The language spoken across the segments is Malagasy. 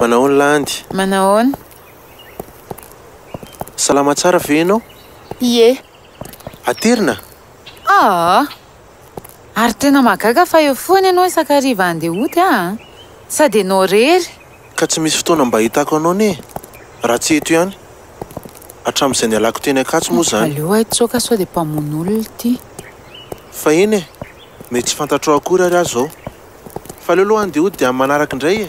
Manahoana Landy? Manahoana? Salama tsara ve ianao? Ie. Aterina? Aa! Ary tena mahagaga fa eo foana ianao isan-kariva handeha hody aa! Sady ianao irery! Ka tsy misy fotoana mba hahitako anao anie e! Raha tsy eto ihany. Hatramin'izay nialako teny Ankatso moa izany. Aleo ahitsoaka sao dia mpamono olona ity. Fahiny e! Mety tsy fantatrao akory ary aho izao. Fa aleo aloha andeha hody amin'ny manaraka indray e!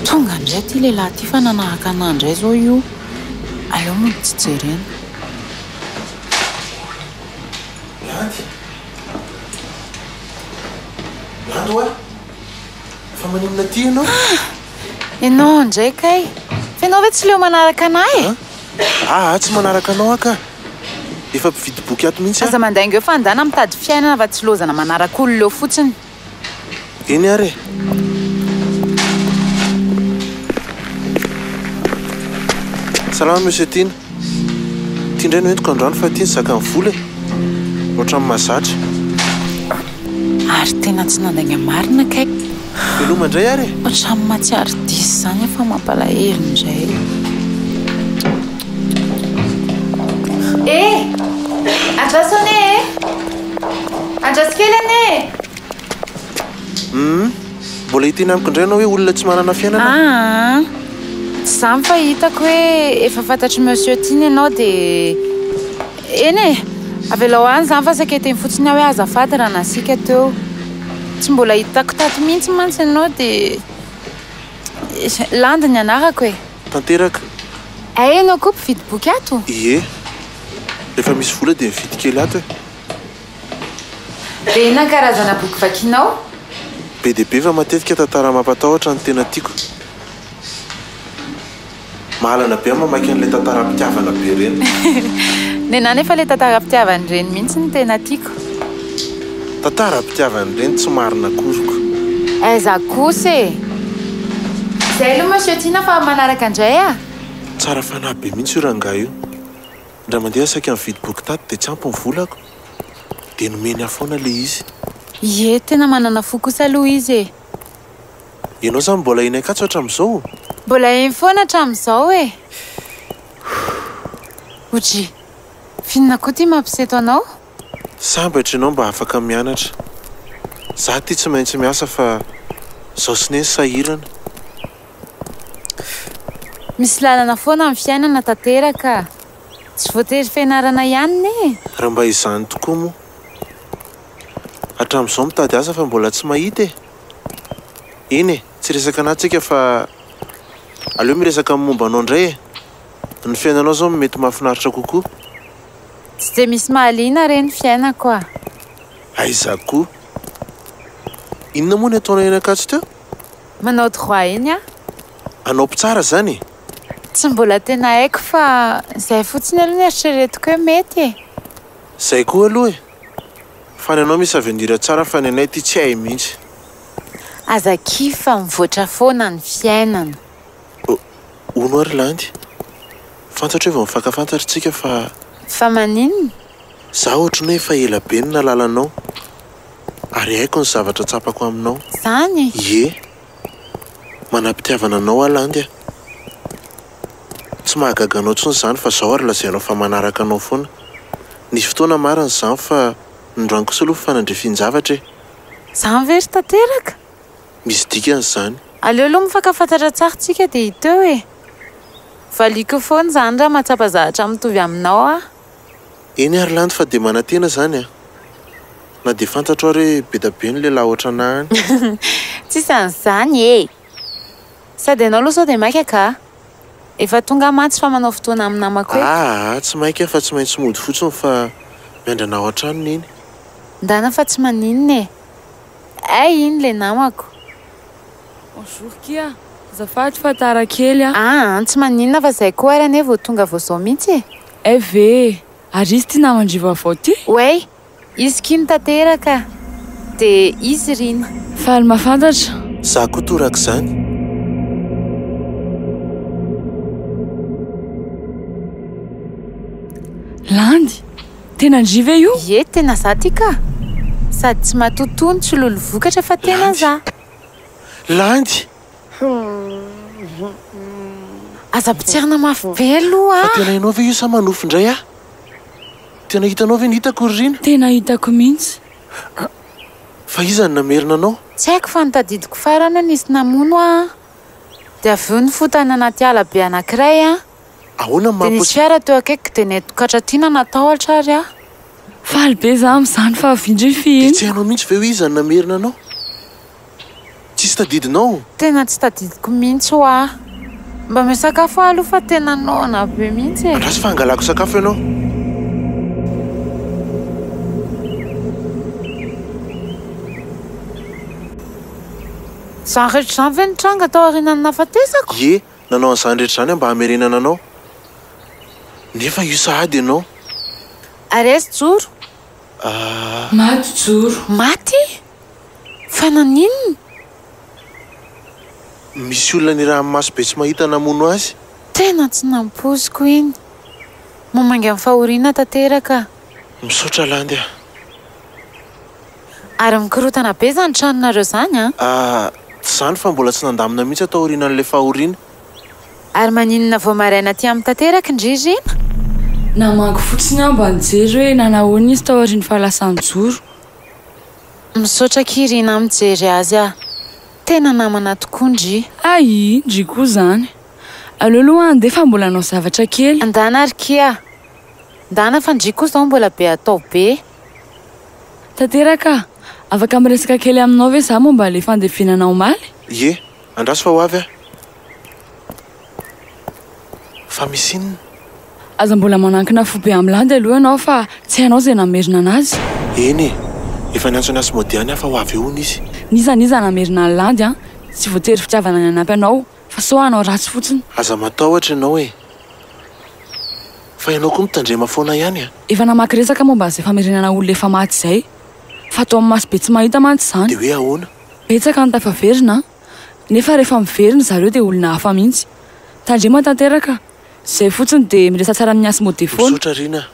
Tonga indray ity lehilahy ity fa nanahaka anà indray izao io. Aleo mody tsy jerena. Landy! Landy hoa! Fa maninona aty ianao? Ah! Ianao indray kay! Fa ianao ve tsy leo manaraka anah e? Ah! Ahy tsy manaraka anao aho ka! Efa mpividy boky ato mihitsy aho. Aza mandainga eo fa andana mitady fiainana fa tsy lozana manaraka olona eo fotsiny. Eny ary e! Salama Monsieur Tiana. Ty ndray no entiko andrano fa ty ny zakan'ny vola e! Ohatran'ny mazatra. Ary tena tsy nandainga marina kay. Veloma indray ary e! Ohatran'ny mahatsiaro diso izany fa mampalahelo indray. Eh! Andraso anie e! Andraso kely anie e! Hum. Mbola hiteny amiko indray ianao hoe olona tsy manana fiainana? Aa! Tsy izany fa hitako hoe efa fantatr'i Monsieur Tim ianao dia eny e! Avelao any izany fa saika hiteny fotsiny aho hoe azafady raha nasiaka teo. Tsy mbola hitako tato mihitsy mantsy ianao dia landy ny anarako e! Tanteraka. Hay ianao koa mpividy boky ato? Ie. Rehefa misy vola dia mividy kely ato e! Be na karazana boky vakianao? Be dia be fa matetika tantara mampatahotra no tena tiako. Mahalana be aho mamaky an'ilay tantaram-pitiavana be ireny. Nenà nefa ilay tantaram-pitiavan'ireny mihitsy no tena tiako. Tantaram-pitiavan'ireny tsy marina akory ko. Aiza kosa e! Izay aloha Monsieur Tiana fa manaraka indray a! Tsara fanahy be mihitsy io rangahy io. Ndra mandeha saika nividy boky tato dia tsy ampy ny volako dia nomeny ahy foana ilay izy. Ie, tena manana fo kosa aloha izy e! Ianao izany mbola eny ankatso hatramin'izao? Mbola eny foana hatramin'izao e! Oji, f'inona koa ity mampisy eto anao? Sambatra ianao mba afaka mianatra. Za ity tsy maintsy miasa fa zao sy neny sahirana. Misy lalana foana ny fiainana tanteraka. Tsy voatery fianarana ihany ne e! Raha mba izany tokoa moa. Hatramin'izao mitady asa fa mbola tsy mahita e! Eny e, tsy resaka anà tsika fa aleo miresaka amin'ny momba anao indray e! Ny fiainanao izao no mety mahafinaritra kokoa. Tsy dia misy mahaliana re ny fiainako a! Aiza koa! Inona moa ny ataonao eny Ankatso teo? Manao droit eny aho. Anao mpitsara zany e! Tsy mbola tena haiko fa zay fotsiny aloha ny eritreretiko hoe mety e! Zay koa aloha e! Fa ny anao misy avenir tsara fa ny anay ity tsy hay mihitsy. Aza kivy fa mivoatra foana ny fiainana. Oh, hono ary landy. Fantatro hoe vao mifankafantatry tsika fa. Fa maninona? Za ohatry ny hoe efa ela be no nalala anao ary haiko ny zavatra tsapako aminao. Zany e! Ie! Manam-pitiavana anao aho Landy a! Tsy mahagaga anao tsony zany fa zao ary lazainao fa manaraka anao foana. Nisy fotoana marina zany fa nindroany kosa aloha fanandrifin-javatra e! Zany ve ry tanteraka? Misy dikany zany. Aleo aloha mifankafantatra tsara tsika dia hita eo e! Valiako foana zany raha mahatsapa zavatra mitovy aminao aho. Eny ary landy fa dia manantena zany a! Na dia fantatro ary hoe bedabe ny lehilahy ohatranà any. Tsisy an'izany e! Sady ianao aloha sao dia maika ka! Efa tonga mantsy fa manao fotoana amin'ny namako eto. Aa tsy maika fa tsy maintsy mody fotsiny fa miandrana ao an-trano neny. Ndana fa tsy maninona e! Hay iny ilay namako. Bonjour kia! Azafady fa tara kely a! Aa tsy maninona fa izay koa ary anie vao tonga vao izao mihitsy e! FV, Ary izy ty naman-dry vaovao ty? Way, Izy kim tanteraka dia izy rina. Faly mahafantatra. Za koa torak'izany. Landy, Tena ndry ve io? Ie tena za ty ka! Sady tsy matotoa ny tsy lolo vokatra fa tena za. Landy, Aza pitsihana mafy be aloha a! Fa tena ianao ve io sa manofy indray aho? Tena hitanao ve ny hitako ry Rina? Tena hitako mihitsy. Fa iza no namerina anao? Tsy haiko fa notadidiko farany hoe nisy namono aho an! Dia avy eo nifotany anaty ala be anankiray aho. Ahoana no maha-possible? Dia nisy fiara teo akaikiko dia nentin-katraty nanatahotra ary aho. Faly be izaho amin'izany fa avy indray f'ino? Dia tsy hainao mihitsy ve hoe iza no namerina anao? Tsisy tadidinao? Tena tsy tadidiko mihitsy hoa. Mba omeo sakafo aho aloha fa tena noana be mihitsy e! Andraso fa hangalako sakafo ianao. Izany rehetra izany ve nitranga tao aorianan'ny nahafatesako? Ie, nanao an'izany rehetra izany aho mba hamerenana anao. Nefa io sahady ianao. Arezy joro! Ah. Maty joro! Maty? Fa naninona? Misy olona ny ranomaso be tsy mahita namono azy? Tena tsy nampoiziko iny. Mamangy amin'ny fahoriana tanteraka. Misaotra Landy a. Ary mikorotana be zany tranonareo zany an! Ah, tsy zany fa mbola tsy nandamina mihitsy aho taorianan'ilay fahoriana. Ary maninona vao maraina aty aminy tanteraka ndry Rina? Namangy fotsiny aho mba nijery hoe nanahoana izy taorian'ny fahalasan-joro. Misaotra akia ry na mijery azy ah. Tena namana tokoa ndry. Aii ndry koa zany. Aleo aloha andeha fa mbola hanao zavatra kely. Ndana ry ki ah. Ndana fa ndry koa zao mbola be atao be. Tanteraka ah. Afaka miresaka kely aminao ve za momba le fandevenana omaly? Ie, andraso fa ho avy aho. Fa misy inona? Aza mbola manankina fo be amin'ny landy aloha ianao fa tsy hainao izay namerina an'azy. Eny e! Efa niantso an'i Asmodi any aho fa ho avy eo hono izy. N'iza n'iza namerina an'i landy an! Tsy voatery fitiavana ny hanampy anao fa sao hanao ratsy fotsiny. Aza matahotra ianao e! Fa ianao koa mitandrema foana ihany an! Efa namaky resaka momba an'izay famerenana olona efa maty izay. Fa atao amin'ny maso be tsy mahita mantsy izany. Dia hoe ahoana? Betsaka ny tafaverina an! nefa rehefa miverina zareo dia olona hafa mihitsy. Tandremo tanteraka, izay fotsiny dia miresa tsara amin'ny hasy mode foana. Misaotra Rina a.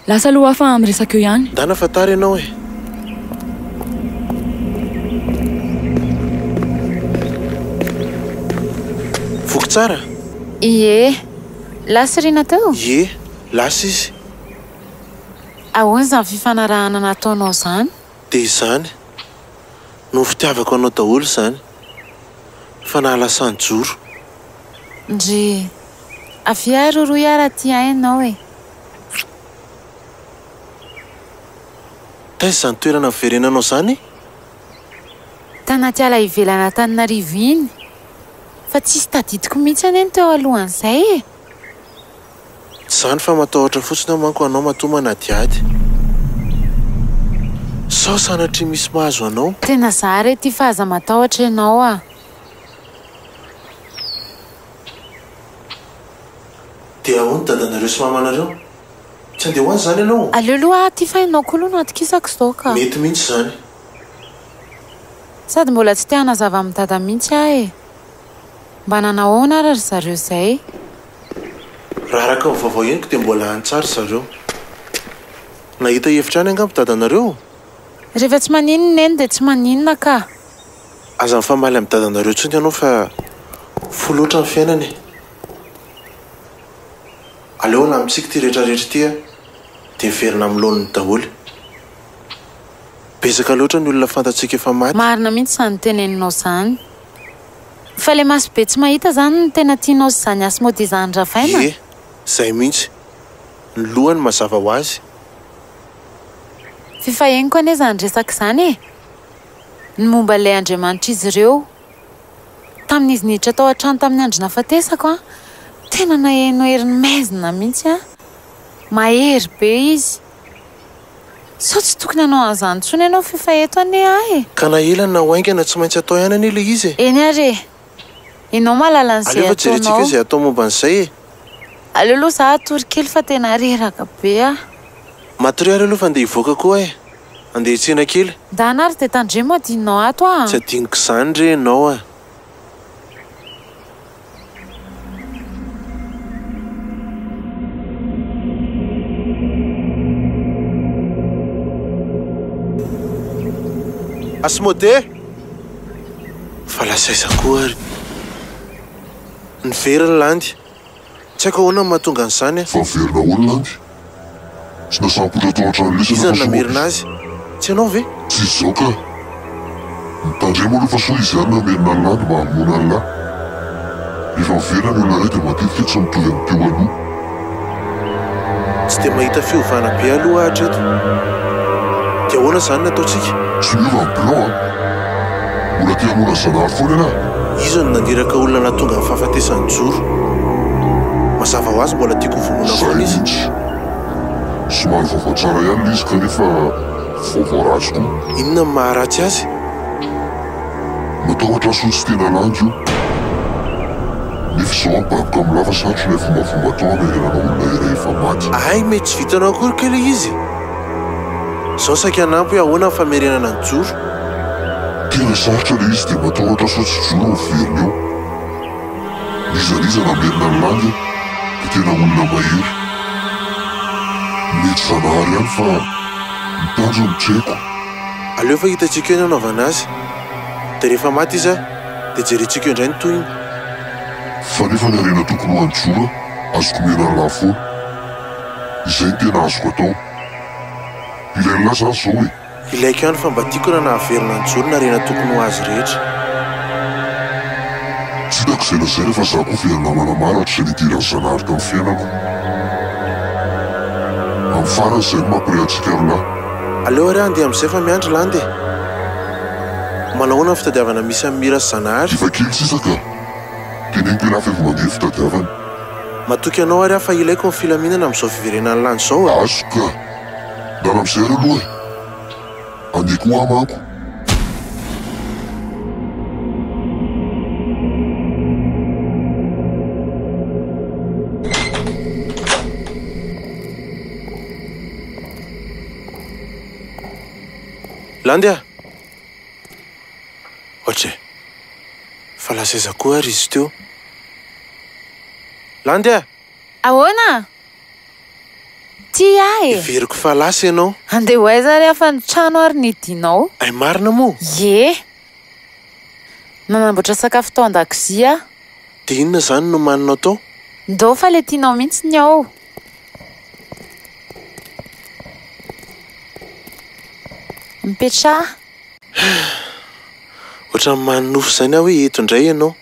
Lasa aloha aho fa miresaka eo ihany. Ndana fa tara ianao e. Voky tsara? Ie. Lasa i Rina teo? Ie. Lasa izy. Ahoana izany fifanarahana nataonao izany? Dia izany. no fitiavako anao daholo izany fa nahalasan joro. Ndry. Avia ahy roroy aho raha tia hainao e. Taiza izany toerana niverenanao izany? Tanaty ala ivelan'Antananarivo iny. Fa tsisy tadidiko mihitsy anie ny teo alohan'izay e. Tsy izany fa matahotra fotsiny aho manko anao matoa manadihady. Sao sanatria misy mahazo anao. Tena za re ty fa aza matahotra ianao a. Dia ahoana dadanareo sy mamanareo? Tsy andeha ho any izany ianao ô? Aleo aloha aho ty fa ianao koa aloha no atokisako izao ka. Mety mihitsy izany. Sady mbola tsy te hanazava amin'i dada mihitsy aho e. Mba nanao ahoana ary ry zareo izay? Raha araka ny vaovao henoko dia mbola any tsara ry zareo. Nahita hevitra any angamba dadanareo? Rehefa tsy maninona i Neny dia tsy maninona kah! Aza mifamaly amin'ny dadanareo intsony ianao fa fohy loatra ny fiainana e! Aleo alamintsika ity rehetra rehetra ity a! Dia miverina amin'ny laoniny daholo. Betsaka loatra ny olona fantatsika efa maty. Marina mihitsy izany teneninao izany. Fa le maso be tsy mahita zany no tena tianao sy zany asmody izany ravaina? Ie, zay mihitsy. Ny lohany mazava ho azy. F'efa henoko anie zany resaka izany e! Ny momba ilay andriamanitr'izy ireo. Tamin'izy niditra tao an-trano tamin'ny andro nahafatesako an, tena naheno heriny maizina mihitsy an! Mahery be izy. Sao tsy tokony hanao an'izany intsony ianao f'io fa eto anie ahy e! Ka na ela na ho haingana tsy maintsy atao ihany anie ilay izy e! Eny ary e! Ianao mahalala an'izay ataonao. Aleo fa jerentsika izay atao momba an'izay e! Aleo aloha izaho hatory kely fa tena reraka be aho. Matoria ary aloha fa andeha hivoaka koa aho e! Andeha hiatsena kely. Ndana ary dia tandremo adinonao ato aho a! Tsy adinoko izany re ianao a! Asmodee! Fa lasa aiza koa ary? Niverina landy. Tsy haiko ahoana no mahatonga an'izany an! Fa niverina ahoana landy? Tsy nasambotra tao an-trano lesy ianao fa soa aho ve izy? Tsy ianao ve? Tsy izao kah! Mitandremo aloha fa soa izy ihany no hamerina an'i Landy mba hamonoana an'i Lah. Rehefa miverina ny olona iray dia matetika tsy mitovy amin'ny teo aloha. Tsy dia mahita fiovana be aloha aho hatreto. Dia ahoana izany ny ataontsika? Tsy miova ny plan an! Mbola te hamono an'i Zanahary foana ialahy? Iza no naniraka olona nahatonga amin'ny fahafatesan'i Joro? Mazava ho azy mbola tiako hovonoina foana izy. Zay mihitsy. Somary vaovao tsara ihany ilay izy kanefa vaovao ratsy koa. Inona no maharatsy azy? Matahotra asao tsy tena landy io. Nefa izao ababoka amin'ny lava satroka ilay fombafomba atao hanarenana olona iray efa maty. Hay mety tsy vitanao akory kay ilay izy e! Zao saika hanampy hoe ahoana ny famerenana ny joro. Tena sarotra ilay izy dia matahotra sao tsy joro no verina eo. N'iza n'iza namerina ny landy dia tena olona mahery. Mety zanahary ihany fa ny tanjony no tsy haiko. Aleo fa hitantsika eo ny hanaovana azy. Dia rehefa maty izy dia jerentsika eo indray ny tohiny. Fa nefa ny harena tokony ho an'i Joro azoko omena an'lah foana. Izay no tena azoko atao. Ilay an'lah zany zao e. Ilaiko ihany fa mba tiako raha nahaverina ny joly narena tokony ho azy rehetra. Tsy hitako izay lazaina fa za koa very namana maro hatrizay nidiran'i Zanahary tamin'ny fiainako. Amin'ny farany izay no mampiray antsika roalahy. Aleo ary aho handeha amin'izay fa miandry Landy e. Manahoana ny fitadiavana misy an'i Mira sy Zanahary? Efa kely sisa ka. Teneniko ialahy fa efa mandeha ny fitadiavana. Matoky anao ary aho fa ilaiko ny filaminana amin'izao fiverenan'ny lany izao a! Azo ka! Miala amin'izay re aloha e! Andeha koa manko! Landy a! Ohatra e! Fa lasa aiza koa ary izy teo? Landy a! Ahoana? Tia ahy e! Heveriko fa lasa ianao. Andeha ho aiza ary afa ny trano ary ny dinao? Hay marina moa? Ie! Nanamboatra sakafo tao an-dakozia aho. Dia inona izany no omaninao tao? Ndao fa ilay tianao mihitsy ny ao. Mipetraha. Ohatran'ny manonofy izany aho hoe eto indray ianao.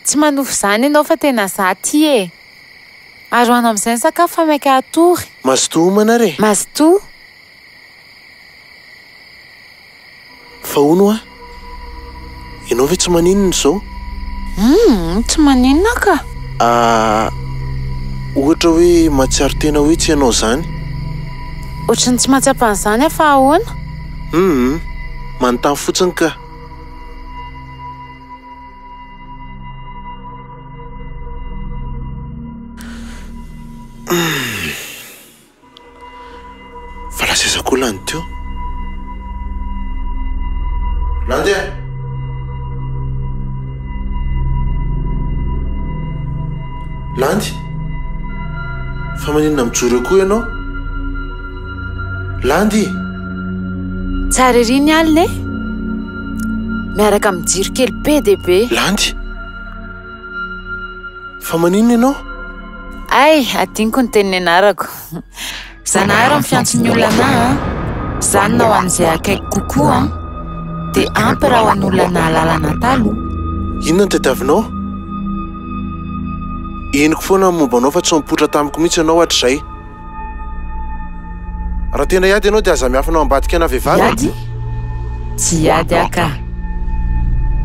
Tsy manonofy izany ianao fa tena izaho aty e! Aroano amin'izay ny sakafo fa mainka hatory. Mazotoa homana ary e! Mazotoa. Fa hono hoa, ianao ve tsy maninona izao? Humm, tsy maninona ka! Ahh, ohatra hoe mahatsiaro tena hoe tsy ianao izany? Ohatry ny tsy mahatsapa an'izany aho fa ahoana? Humm, manontany fotsiny ka! Humm. Fa lasa aiza koa lany teo? Nandeha! Landy! Fa maninona mijoro eo koa ianao? Landy! Tsara ery ny alina e! Miaraka amin'ny jiro kely be dia be. Landy! Fa maninona ianao? Hay, adinoko ny teny nianarako. Zanahary amin'ny fiantson'ny olana an! Zanona ho an'izay akaiky kokoa an! Dia ampy raha ho an'olona nahalala anà taloha. Inona no tadiavinao? Henoko foana ny momba anao fa tsy nipoitra tamiko mihitsy ianao hatrizay. Raha tena hiady ianao dia aza miafina ao ambadika ana vehivavy e! Hiady? Tsy hiady aho ka!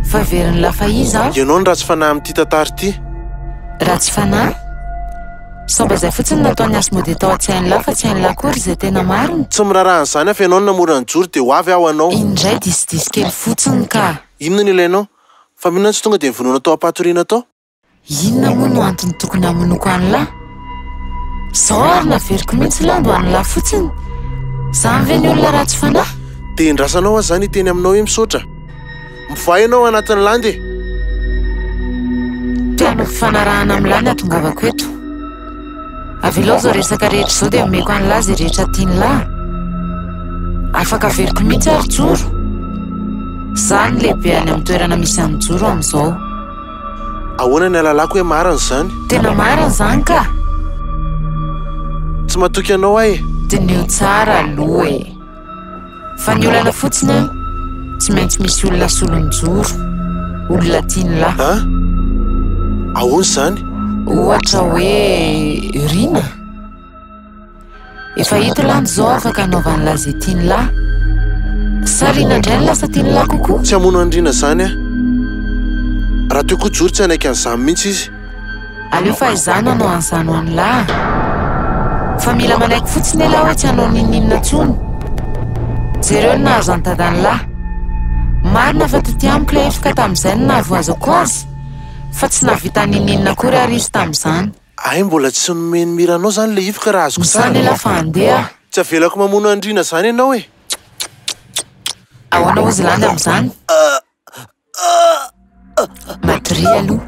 Fa very ny lafaiza aho! Ianao no ratsy fanahy amin'ity tantara ity! Ratsy fanahy? Samba izay fotsiny no nataon'i Asmodee tao an-tsain'lah fa tsy hain'lah akory izay tena marina! Tsy miraharaha an'izany aho fa ianao no namora ny joro dia ho avy aho ho anao! Iny indray diso diso kely fotsiny ka! Inona no ilainao? Fa maninona no tsy tonga dia nivonoana tao am-patoriana tao? Inona moa no antony tokony hamonoako an'lah? Zao ary naveriko mihitsy lah mba an'lah fotsiny! Zany ve ny olona ratsy fanahy? Dia endrasanao aho zany hiteny aminao hoe misaotra! Mivaha ianao anatin'ny landy e! Te hanao fifanarahana amin'lah ny hatongavako eto. Avelao izao resaka rehetra izao dia omeko an'lah izay rehetra tian'lah. Afaka averiko mihitsy ary joro! Zah no lehibe any amin'ny toerana misy an'i Joro amin'izao. Ahoana ny alalako hoe marina izany? Tena marina izany ka! Tsy matoky anao aho e! Diniho tsara aloha e! Fa ny olana fotsiny an, tsy maintsy misy olona asolo nijoro, olona tiany lahy. An? Ahoana izany? Ohatra hoe Rina? Efa hita lany izao afaka anaovany lahy izay tiany lahy. Sarina indray ny lasa tiany lahy kokoa. Tsy hamono andriana izany aho. Raha teo koa jory tsy hanaiky an'izany mihitsy izy. Aleo fahizana no an'izany ho an'ny lahy. Fa mila manaiky fotsiny ialahy hoe tsy hanao n'inon'inona intsony. Jereo ny nahazo an'i dadan'i lahy. Marina fa toty amiko ilay hefoka tamin'izay no nahavoazako azy, fa tsy nahavita n'inon'inona akory àry izy tamin'izany. Hay mbola tsy nomeny mira anao zany le hifoka raha azoko tsara. Misaotra elah fa handeha. Tsy avelako mamono andriana zany ianao e. Ahoana ozy landa amin'izany? Matoria aloha.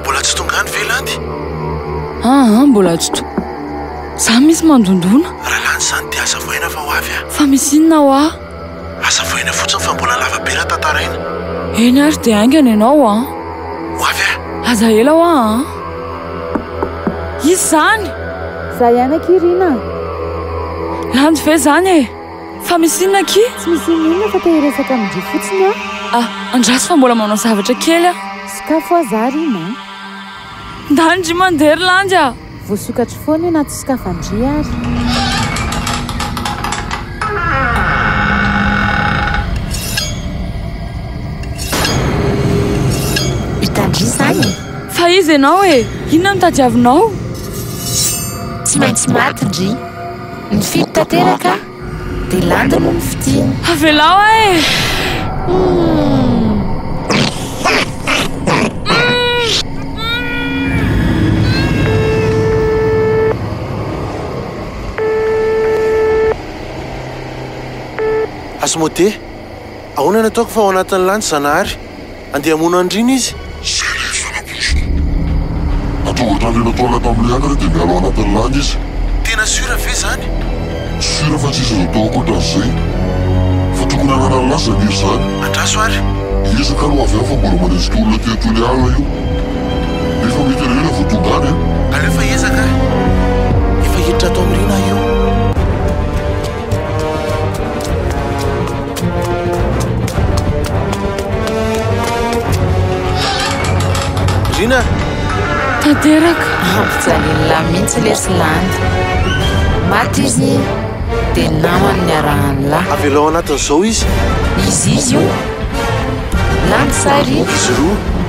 Mbola tsy tonga any ve Landy? Aa mbola tsy to. Za misy mandondona. Ralandy izany dia aza voaina fa ho avy aho. Fa misy inona hoa? Aza voaina fotsiny fa mbola lava be raha tantaraina. Eny ary dia haingana ianao an. Ho avy aho. Aza ela hoa an. Iza izany? Za ihany akia Rina a. Landy ve izany e? Fa misy inona akia? Tsy misy inona inona fa te hiresaka amin-dry fotsiny aho. Ah, andraso fa mbola manao zavatra kely aho. Sokafo aza ary iny an! Ndany-dry mandeha ry landy ah! Voasokatro foana io na tsy sokafan-dry ary. Hitan-dry izany e! Fa iza ianao e? Inona no tadiavinao? Tsy maintsy maty ndry. Nifidy tanteraka dia landy no nifidiny. Avelao aho e! Asmodee, ahoana no ataoko fa ao anatin'ny landy Zanahary? Andeha hamono andriana izy. Zara izy fanampy lesona. Atonga hatrany anatoana tamin'ilay any re dia miala ao anatin'ny lany izy. Tena sur ve zany? Sur fa tsisy azo atao ankoatran'izay. Fa tokony hanana ny lasany iry zany. Andraso ary. Hiezaka aloha avy any fa mbola manenjika olona aty antoin'ny ala io. Nefa mety ela ela vao tonga any an. Aleo fa hiezaka aho. Efa hiditra ato amin'ny rina aho io. Lina! Tanteraka! Mampijalin'lah mihitsy lesy lany. Maty izy dia namany niarahan'lah. Avelao anatin'izao izy. Izy izy io. Lany sahy ry. Izy roa.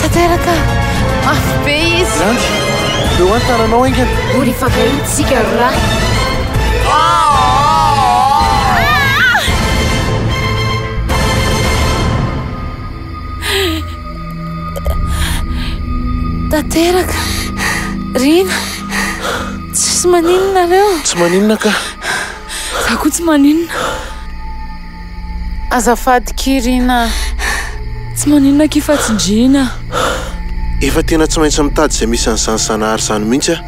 Tanteraka mafy be izy. Landy, eo an tananao haingana. Ho rifanahitsika ry lahy. Tanteraka, Rina, tsisy maninona nareo? Tsy maninona kah. Za koa tsy maninona. Azafady Kirina a! Tsy maninona akia fa tsindriana a! Efa tena tsy maintsy mitady izay misy an'izany Zanahary izany mihitsy aho.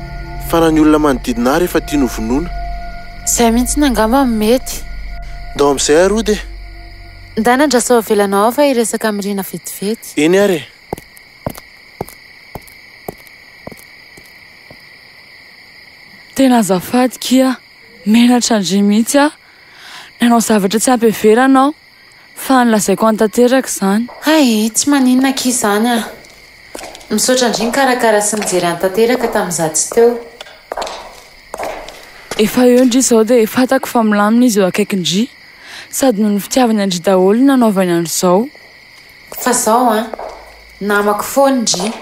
Fa na ny olona manodidina ary efa tiany hovonoina. Izay mihitsy angamba no mety. Ndao amin'izay ary hody e! Ndana ndra sao avelanao aho fa hiresaka amin'i Rina vetivety. Eny ary e! Tena azafady kia! Menatra an-dry mihitsy aho. Nanao zavatra tsy ampy heverana aho, fa nolazaiko any tanteraka izany. Hay, tsy maninona akia izany an! Misaotra ndry nikarakara sy nijery any tanteraka tamin'izaho tsy teo. Efa eo ndry izao dia fantako fa milamina izy eo akaikin-dry. Sady noho ny fitiavany an-dry daholo ny nanaovany an'izao. Fa izao an! Namako foana ndry.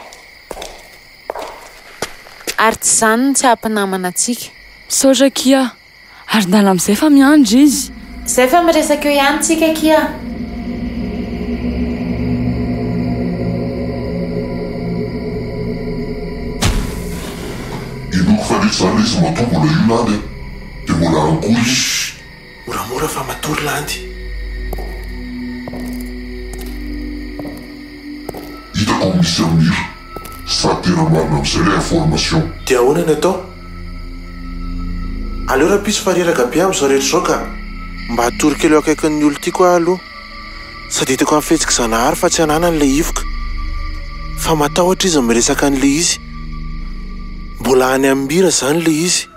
Ary tsy izany no tsy aha-mpinamana antsika. Misaotra akia. Ary ndana amizay fa miandry izy. Zay fa miresaka eo ihany tsika akia. Zany izy matoa mbola io landy a Dia mbola any koa izy Moramora fa matory landy Hitako misy amin'io Sa tena marina amizay le information? Dia ahoana ny atao? Aleo rahampitso fa reraka be amin'izao rehetra izao ka! Mba atory kely eo akaikin'ny olon-tiako aho aloha. Sady hitako amin'ny fihetsik'i Zanahary fa tsy ananany ilay hivoka. Fa matahotra izy miresaka an'ilay izy. Mbola any amim-bira izany ilay izy.